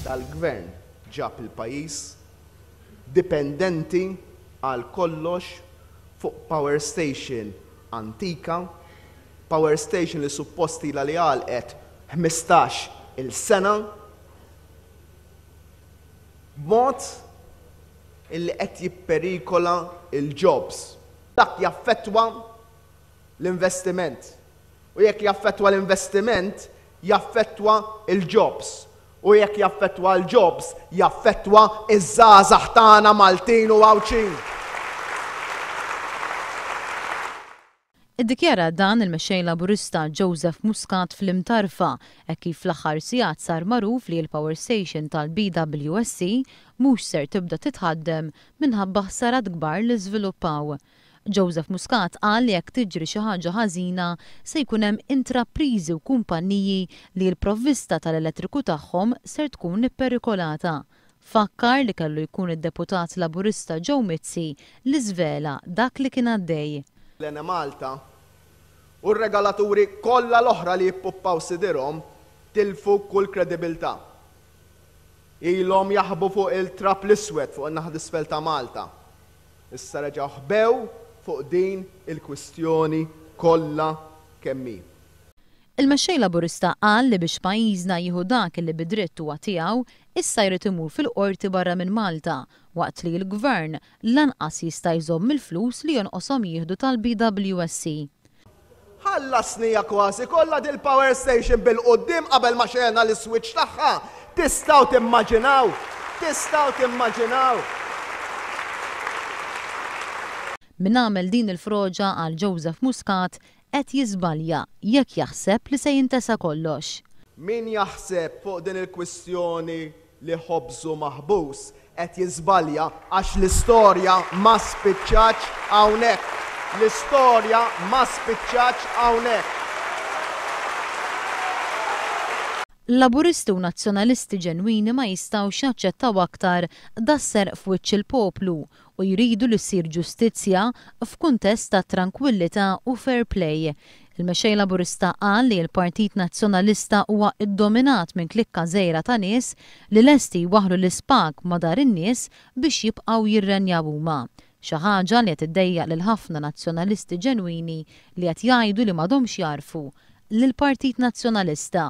tal-Gvern ġab il-pajjiż dipendenti għal kollox fuq power station antika, power station li suppost ilha li għalqet ħmistax il sena, b'mod illi qed jipperikola l-jobs. Dak jaffettwa l-investiment u jekk jaffettwa l-investiment jaffettwa l-jobs u jekk jaffettwa l-jobs jaffettwa ż-żgħażagħ tagħna Maltin u Għawdxin. Iddikjara dan il-Mexxej Laburista Joseph Muscat fl-Imtarfa hekk kif fl-aħħar sigħat sar magħruf li l-power station tal-BWSC mhux ser tibda titħaddem minħabba ħsarat kbar li żviluppaw. Joseph Muscat qal li jekk tiġri xi ħaġa ħażina se jkun hemm intrapriżi u kumpanniji li l-provvista tal-elettriku tagħhom ser tkun ipperikolata. Fakkar li kellu jkun id-Deputat Laburista Joe Mizzi li żvela dak li kien għaddej. l-Enemalta, u r-regalaturi kollha l-oħra li jippuppaw sidirhom tilfu kull kredibiltà. Ilhom jaħbu fuq il-trab l-iswed fuq in-naħa t'isfel ta' Malta. Issa reġgħu ħbew fuq din il-kwistjoni kollha kemm hi. Il-Mexxej Laburista qal li biex pajjiżna jieħu dak li bi dritt huwa tiegħu, issa jrid imur fil-Qorti barra minn Malta, waqt li l-Gvern lanqas jista' jżomm il-flus li jonqoshom jieħdu tal-BWSC. Ħallasni hija kważi kollha dil-power station bil-quddiem qabel ma xegħelna l-iswiċċ tagħha! Tistgħu timmaġinaw! Tistgħu timmaġinaw! Min għamel din il-froġa għal Joseph Muscat qed jiżbalja jekk jaħseb li se jintesa kollox. Min jaħseb fuq din il-kwistjoni li ħobżu maħbus, qed jiżbalja għax l-istorja ma spiċċatx hawnhekk. L-istorja ma spiċċatx hawnhekk. Laburisti u Nazzjonalisti ġenwini ma jistgħux jaċċettaw aktar das-serq f'wiċċ il-poplu u jridu li ssir ġustizzja f'kuntest ta' trankwillità u fair play. Il-Mexxej Laburista qal li l-Partit Nazzjonalista huwa ddominat minn klikka żgħira ta' nies li lesti jwaħħlu l-ispag ma' dar in-nies biex jibqgħu jirrenjaw huma, xi ħaġa li qed iddejjaq lil ħafna Nazzjonalisti ġenwini li qed jgħidu li m'għadhomx jagħrfu lill-Partit Nazzjonalista.